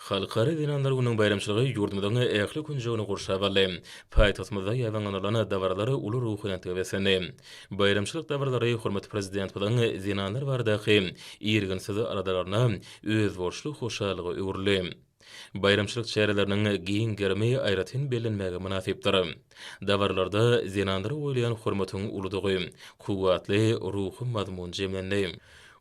Halkara zenanlar gününiň baýramçylygy ýurdumyzyň ähli künjegini gurşap aldy. Paýtagtymyzda ýaýbaňlanylan dabaralar uly ruhubelentlige beslendi. Baýramçylyk dabaralary hormatly Prezidentimiziň zenanlar baradaky irginsiz aladalaryna özboluşly hoşallyga öwrüldi. Baýramçylyk çäreleriniň giň gerimi aýratyn bellenmäge mynasypdyr. Dabaralarda zenanlara goýulýan hormatyň uludygy, kuwwatly ruhy mazmun jemlendi.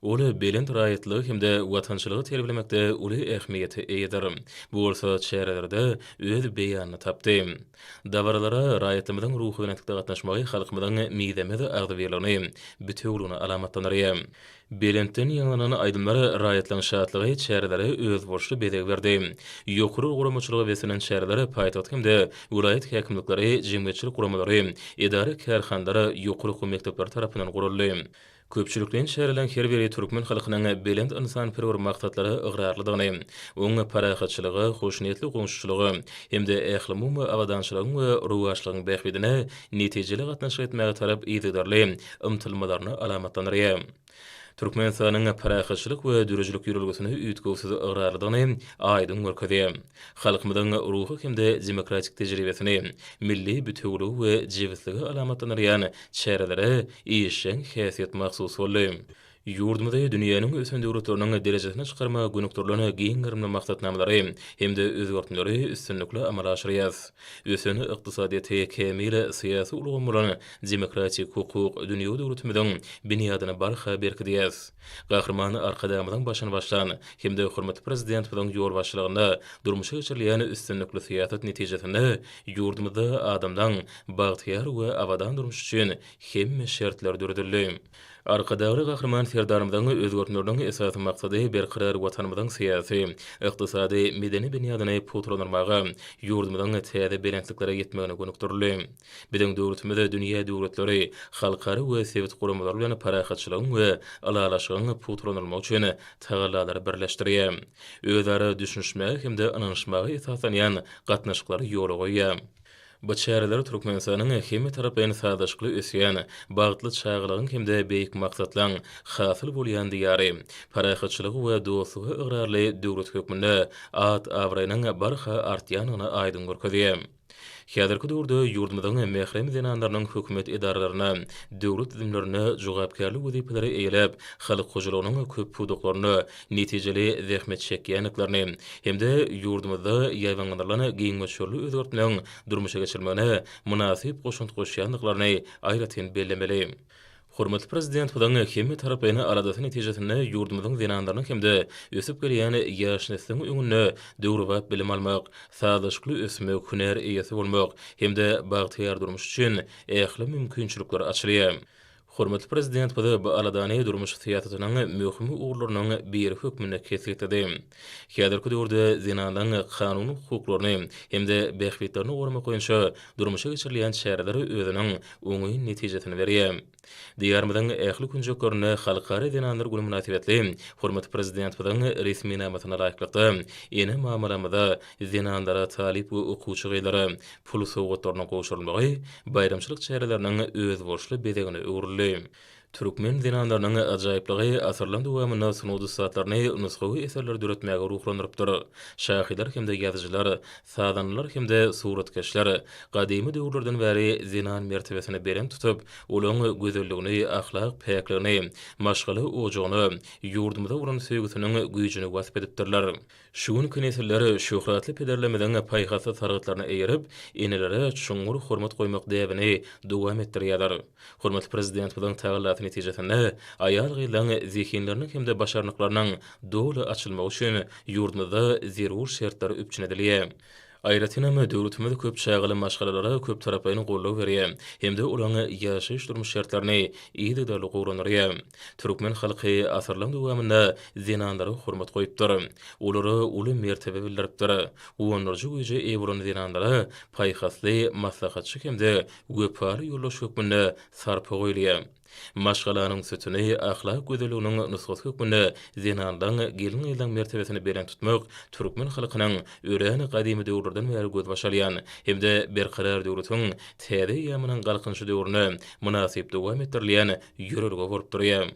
Ol belent raýatlygy hem-de watançylygy terbilemekde uly ähmiýete eýedir. Bu bolsa çärelerde öz beýanyny tapdy. Dabaralara raýatlarymyzyň ruhubelentlikde gatnaşmagy halkymyzyň mizemez agzybirligini, bitewüligini alamatlandyrýar. Belentden ýaňlanan aýdymlar raýatlaryň şatlygy çärelere özboluşly bezeg berdi. Ýokary guramaçylyga beslenen çäreler paýtagt hem-de welaýat häkimlikleri, jemgyýetçilik guramalary, edara-kärhanalar, ýokary okuw mekdepleri tarapyndan guraldy. Köpçülikleýin çäreleriň her biri türkmen halkynyň belent ynsanperwer maksatlara ygrarlydygyny, oňa parahatçylyga, hoşniýetli goňşuçylyga hem-de ählumumy abadançylygyň we rowaçlygyň bähbidine netijeli gatnaşyk etmäge tarap yzygiderli ymtylmalaryny alamatlandyrýar. Türkmenistanyň parahatçylyk we döredijilik ýörelgesine üýtgewsiz ygrarlydygyny aýdyň görkezýär. Halkymyzyň ruhy hem-de demokratik tejribesini, milli bitewiligi we jebisligi alamatlandyrýan çärelere işjeň häsiýet mahsus boldy. Ýurdumyzy dünýäniň ösen döwletleriniň derejesine çykarmaga gönükdirilen giň gerimli maksatnamalary hem-de özgertmeleri üstünlikli amala aşyrýarys. Ösen ykdysadyýeti, kämil syýasy ulgamy bolan demokratik-hukuk dünýewi döwletimiziň binýadyny barha berkidýäris. Gahryman Arkadagymyzyň başyny başlan hem-de hormatly Prezidentimiziň ýolbaşçylygynda durmuşa geçirilýän üstünlikli syýasat netijesinde ýurdumyzda adamlaň bagtyýar we abadan durmuşy üçin hemme şertler döredildi. Arkadagly Gahryman Serdarymyzyň özgertmeleriniň esasy maksady berkarar Watanymyzyň syýasy, ykdysady, medeni binýadyny pugtalandyrmaga, ýurdumyzyň täze belentliklere ýetmegine gönükdirildi. Biziň döwletimiz dünýä döwletleri, halkara we sebit guramalary bilen parahatçylygyň we ylalaşygyň pugtalandyrylmagy üçin tagallalary birleşdirýär. Özara düşünişmäge hem-de ynanyşmaga esaslanýan gatnaşyklary ýola goýýar. Bu çäreler Türkmenistanyň hemmetaraplaýyn sazlaşykly ösýän, bagtly çagalygyň hem-de beýik maksatlaryň hasyl bolýan Diýary, parahatçylyga we dostluga ygrarly döwlet hökmünde at-abraýynyň barha artýandygyny aýdyň görkezýär. Häzirki döwürde ýurdumyzyň mährem zenanlarynyň hökümet edaralaryna, döwlet düzümlerine jogapkärli wezipeleri eýeläp, halk hojalygynyň köp pudaklarynda netijeli zähmet çekýändiklerini hem-de ýurdumyzda ýaýbaňlandyrylan giň möçberli özgertmeň durmuşa geçirilmegine mynasyp goşant goşýandyklaryny aýratyn bellemeli. Hormatly Prezidentimiziň hemmetaraplaýyn aladasyny netijesinde ýurdumyzyň zenanlarynyň hem-de ösüp gelýän ýaş nesliň öňünde döwrebap bilim almak, sazlaşykly ösmek, hünär eýesi bolmak hem-de bagtyýar durmuş üçin ähli mümkinçilikler açylýar. Hormatly Prezidentimiz bu aladany durmuş syýasatynyň möhüm ugurlarynyň biri hökmünde kesgitledi. Häzirki döwürde zenanlaryň kanuny hukuklaryny hem-de bähbitlerini goramak boýunça durmuşa geçirilýän çäreler özüniň oňyn netijesini berýär. Diýarymyzyň ähli künjeklerinde Halkara zenanlar güni mynasybetli hormatly Prezidentimiziň resminamasyna laýyklykda, ene-mamalarymyza, zenanlara, talyp we okuwçy gyzlara pul sowgatlarynyň gowşurylmagy baýramçylyk çäreleriniň özboluşly bezegine öwrüldi. Türkmen zenanlarynyň ajaýyplygy asyrlaryň dowamynda sungat ussatlaryny nusgawy eserleri döretmäge ruhlandyrypdyr. Şahyrlar hem-de ýazyjylar, sazandalar hem-de suratkeşler gadymy döwürlerden bäri zenan mertebesini belent tutup, olaň gözelligini, ahlak päkligini, maşgala ojagyny, ýurdumyza bolan söýgüsiniň güýjüni wasp edipdirler. Şu günki nesiller şöhratly pederlerimiziň paýhasly sargytlaryna eýerip, enelere çuňňur hormat goýmak däbini dowam etdirýärler. Hormatly Prezidentimiziň tagallasy netijesinde, aýal-gyzlaryň zehinleriniň hem-de başarnyklarynyň doly açylmagy üçin ýurdumyzda zerur şertler üpjün edilýär. Aýratynam, döwletimiz köp çagaly maşgalalara köptaraplaýyn goldaw berýär hem-de olaryň ýaşaýyş-durmuş şertlerini yzygiderli gowulandyrýar. Türkmen halky asyrlaryň dowamynda zenanlara hormat goýupdyr. Olara uly mertebe bildiripdir. Guwandyryjy güýje eýe bolan zenanlara paýhasly maslahatçy hem-de wepaly ýoldaş hökmünde sarpa goýulýar. Maşgalanyň sütüni, ahlak gözelliginiň nusgasy hökmünde zenanlaň, gelin-gyzlaň mertebesini belent tutmak türkmen halkynyň örän gadymy döwürlerden bäri gözbaş alýan hem-de Berkarar döwletiň täze eýýamynyň Galkynyşy döwründe mynasyp dowam etdirilýän ýörelge bolup durýar.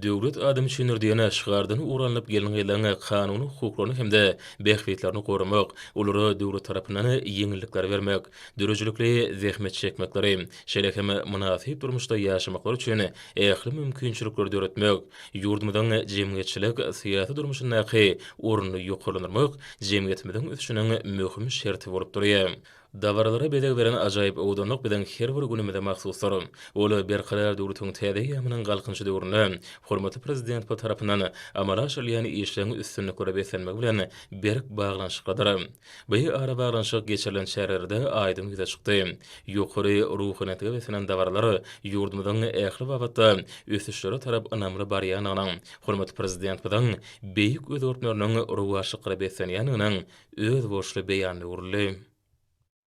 Döwlet adam üçindir! diýen şygardan ugur alnyp gelin-gyzlaň kanuny hukuklaryny hem-de bähbitlerini goramak, olara döwlet tarapyndan ýeňillikleri bermek, döredijilikli zähmet çekmekleri, şeýle hem mynasyp durmuşda ýaşamaklary üçin ähli mümkinçilikleri döretmek, ýurdumyzyň jemgyýetçilik, syýasy durmuşyndaky ornuny ýokarlandyrmak jemgyýetimiziň ösüşiniň möhüm şerti bolup durýar. Dabaralara bezeg beren ajaýyp owadanlyk biziň her bir günümize mahsusdyr. Ol Berkarar döwletiň täze eýýamynyň Galkynyşy döwründe hormatly Prezidentimiz tarapyndan amala aşyrylýan işleriň üstünliklere beslenmegi bilen berk baglanyşyklydyr. Bu arabaglanyşyk geçirilen çärelerde aýdyň ýüze çykdy. Ýokary ruhunetge beslenen dabaralar ýurdumyzyň ähli babatda ösüşlere tarap ynamly barýandygynyň, hormatly Prezidentimiziň beýik özgertmeleriniň rowaçlyklara beslenýändiginiň özboluşly beýanyna öwrüldi.